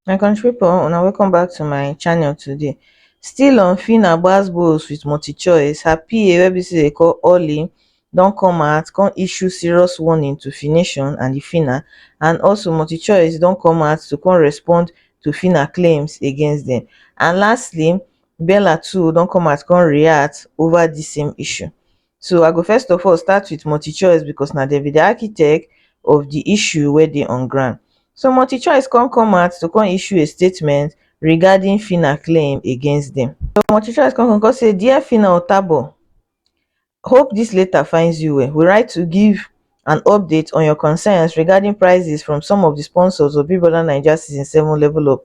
my country people una welcome back to my channel today still on fina gbas gbos with multi choice her pa wey be say dey call olly don come out come issue serious warning to fination and the fina and also multi choice don come out to come respond to fina claims against them and lastly Bella too don come out come react over this same issue. So I go first of all start with MultiChoice because na dem be the architect of the issue wey dey on ground. So MultiChoice come come out to come issue a statement regarding Phyna claim against them. So MultiChoice come come come say, Dear Phyna Otabo, hope this letter finds you well. We write to give an update on your concerns regarding prices from some of the sponsors of Big Brother Naija Season 7 Level Up.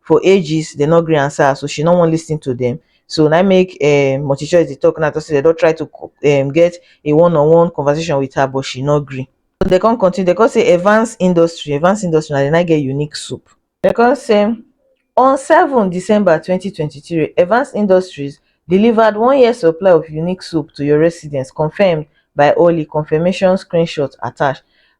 for ages dey no gree answer her so she no wan listen to dem so na im make um multichoice dey talk now talk say dem don try to um get a one on one conversation with her but she no gree so dem come continue dem come say Evans industry Evans industry na dem na im get unique soup dem come say on seven December twenty twenty three Evans industries delivered one year supply of unique soup to your residence confirmed by Orly confirmation screenshot attached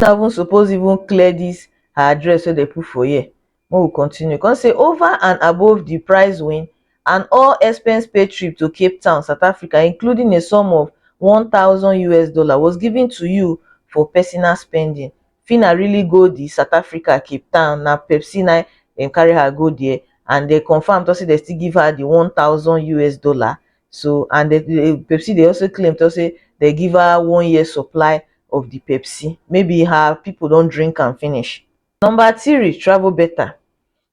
no even suppose even clear dis her address wey dem put for here make we continue come say over and above di prize win and all expense paid trip to cape town south africa including a sum of one thousand us dollar was given to you for personal spending phinah really go di south africa cape town na pepsi na dem carry her go dia and dem confam tok say dem still give her di one thousand us dollar so and the the Pepsi dey also claim talk say they give her one year supply of the Pepsi maybe her people don drink am finish. Number three, Travel Better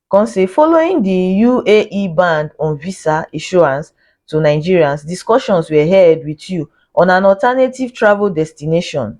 come say following the UAE ban on visa issuance to Nigerians, discussions were held with you on an alternative travel destination.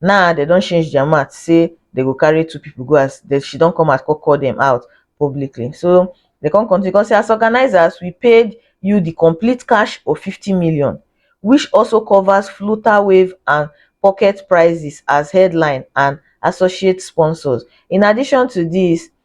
Now dem don change their mouth say dem go carry two people go as dem she don come out come call them out publicly. So dem come continue come say as organizers we paid you the complete cash of fifty million which also covers floater wave and pocket prizes as headline and associate sponsors. In addition to this,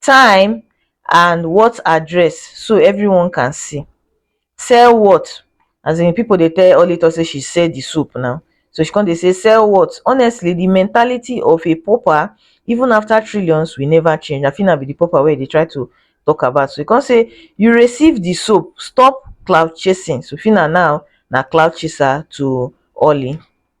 time and what address so everyone can see sell what as in people dey tell Oli talk say she sell the soap now so she come dey say sell what honestly the mentality of a pauper even after trillions will never change I think na be the pauper wey dey try to talk about so he come say you receive the soap stop cloud chasing so Phyna now na cloud chaser to Oli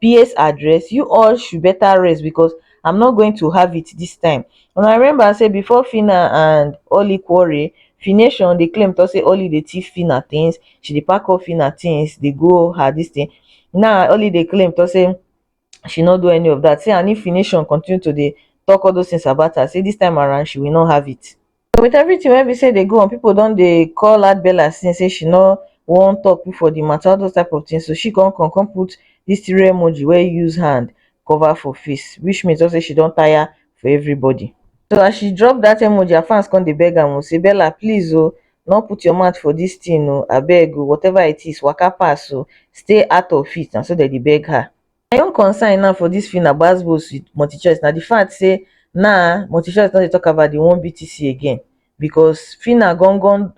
peers address you all should better rest because I'm not going to have it this time and I remember say before Fina and Oli quarrel Fination dey claim to say Oli dey thief Fina things she dey pack up Fina things dey go her this thing now Oli dey claim to say she no do any of that say and if Fination continue to dey talk all those things about her say this time around she will not have it so with everything wey be say dey go on people don dey call her bella since say she no wan talk put for the matter all those type of things so she come come come put this three emoji wey use hand cover for face which means just say she don tire for everybody so as she drop that emoji her fans come dey beg am o say bella please o no put your mouth for this thing o abeg o whatever it is waka pass o stay out of it na so dem dey beg her My own concern now for dis film na gbas gbos with multichoice na di fact say naa multichoice no dey talk about di one BTC again because phyna gan gan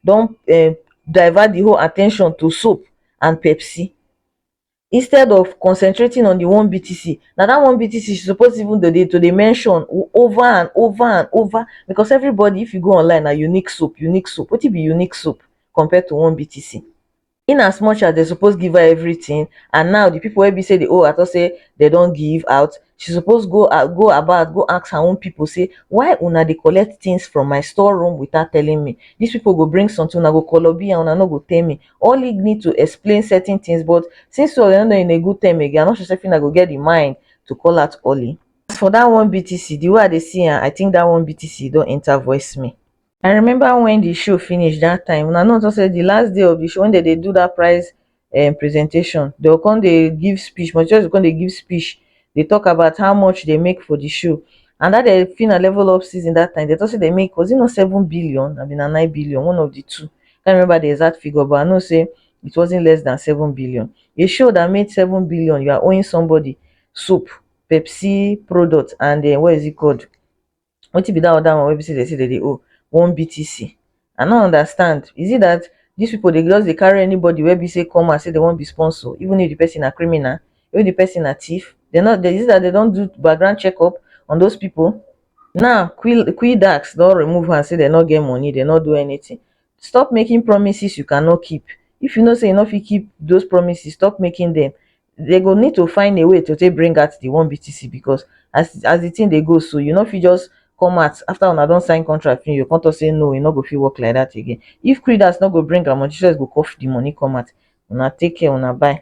don um divert di whole attention to soap and pepsi instead of concentrating on di one BTC na dat one BTC she suppose even to dey to dey mention over and over and over because everybody if you go online na unique soap unique soap wetin be unique soap compared to one BTC. in as much as dem suppose give her everything and now the people wey be say dey owe her talk say dem don give out she suppose go out go about go ask her own people say why una dey collect things from my store room without telling me these people go bring something una go kolobi am una no go tell me or lead me to explain certain things but since you all no dey in a good term again I'm not sure say Fina go get the mind to call out Ollie as for that one BTC the way I dey see am I think that one BTC don enter voice me. I remember when the show finish that time una no talk say the last day of the show when they dey do that prize um, presentation they go come dey give speech Montreal go come dey give speech dey talk about how much they make for the show and that the fina level up season that time they talk say they make was it not seven billion I mean na nine billion one of the two I can't remember the exact figure but I know say it wasn't less than seven billion a show that made seven billion you are owing somebody soap Pepsi product and uh, what is it called wetin be dat other one wey be sey dem sey dem dey owe one BTC i no understand is it dat dis people dey just dey carry anybody wey be sey come out sey dem wan be sponsor even if the person na criminal if the person na thief dem no dey is it dat dem don do background check up on those people now qui quidax don remove hand sey dem no get money dem no do anything stop making promises you cannot keep if you know sey you no fit keep those promises stop making dem they go need to find a way to take bring out the one BTC because as as the thing they go so, you know if you just come out after una don sign contract you come talk say no e no go fit work like that again if creeders no go bring am on jesus go cough the money come out una take care una bye